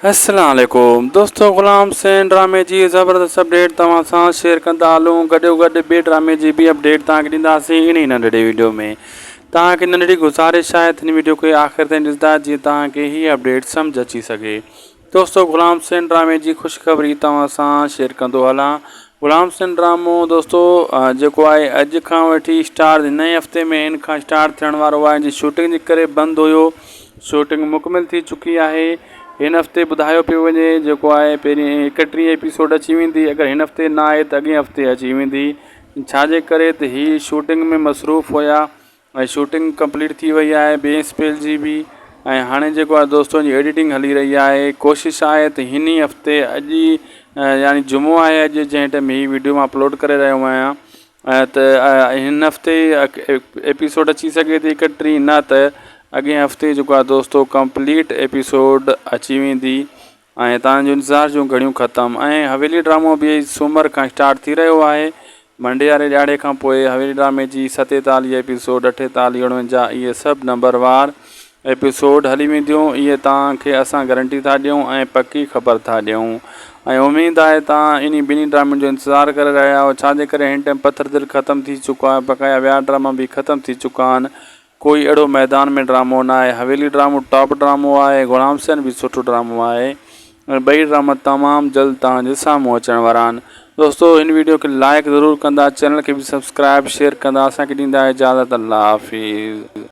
السلام عليڪم دوستو غلام حسين ڊرامي جي زبردست اپڊيٽ توهان سان شيئر ڪندا هلون گڏو گڏ ٻي ڊرامي جي به اپڊيٽ توهان کي ڏينداسين انهي ننڍڙي ويڊيو ۾ توهان کي ننڍڙي گزارش آهي ته هن ويڊيو کي آخر تائين ڏسندا جيئن توهان کي هي اپڊيٽ سمجھ اچي سگهي دوستو غلام حسين ڊرامي جي خوشخبري توهان سان شيئر ڪندو هلان غلام حسين ڊرامو دوستو جيڪو آهي اڄ کان وٺي اسٽار ٿي نئين هفتي ۾ ان کان اسٽار ٿيڻ وارو آهي ان جي شوٽنگ جي ڪري بند هيو شوٽنگ مڪمل ٿي چڪي آهي هن هفتي ٻڌايو پيو وڃي جيڪو آهي پهرين ايڪٽيهه ايپيسوڊ اچي ويندي اگر هن هفتي نه آهي ته اڳئين هفتي اچي ويندي ڇاجي ڪري ته هي شوٽنگ ۾ مصروف هيا ۽ شوٽنگ ڪمپليٽ ٿي وئي آهي ٻئي اسپيل جي به ۽ هاڻي جيڪو آهي دوستو ان جي ايڊيٽنگ هلي رهي آهي ڪوشش آهي ته هن ئي هفتي اڄ ئي يعني جمعو آهي اڄ جنهن ٽيم هي ويڊيو مان اپلوڊ ڪري رهيو آهيان ته هن هفتي ايپيسوڊ اچي سگهي ٿي اڪٽريهه نه ته اڳئين هفتي جيڪو آهي دوستو ڪمپليٽ ايپيسوڊ اچي ويندي ۽ توهان جو انتظار جون گهڙيون ختم ۽ حويلي ڊرامو به سومر کان اسٽارٽ ٿي رهيو آهي ڀنڊياري ڏهاڙي کان پوء حويلي ڊرامي جي ستيتاليهه ايپيسوڊ اٺيتاليهه اڻونجاهه اهي سڀ نمبر وار ايپيسوڊ هلي وينديون اهي توهان کي اسان گرنٽي ٿا ڏيون ۽ پڪي خبر ٿا ڏيون ۽ اميد آهي توهان انهي ٻنهي ڊرامن جو انتظار ڪري رهيا آهيو ڇا جي ڪري هن ٽائيم پٿر دل ختم ٿي چڪو آهي بقايا ٻيا ڊراما به ختم ٿي چڪا آهن ڪوئي اھڙو ميدان ۾ ڊرامو ناھي حويلي ڊرامو ٽاپ ڊرامو آھي غلام حسين به سٺو ڊرامو آھي ۽ ٻئي ڊراما تمام جلد توھان جي سامھون اچڻ وارا آھن دوستو ھن ويڊيو کي لائيڪ ضرور ڪندا چينل کي به سبسڪرائيب شيئر ڪندا اسان کي ڏيندا اجازت الله حافظ.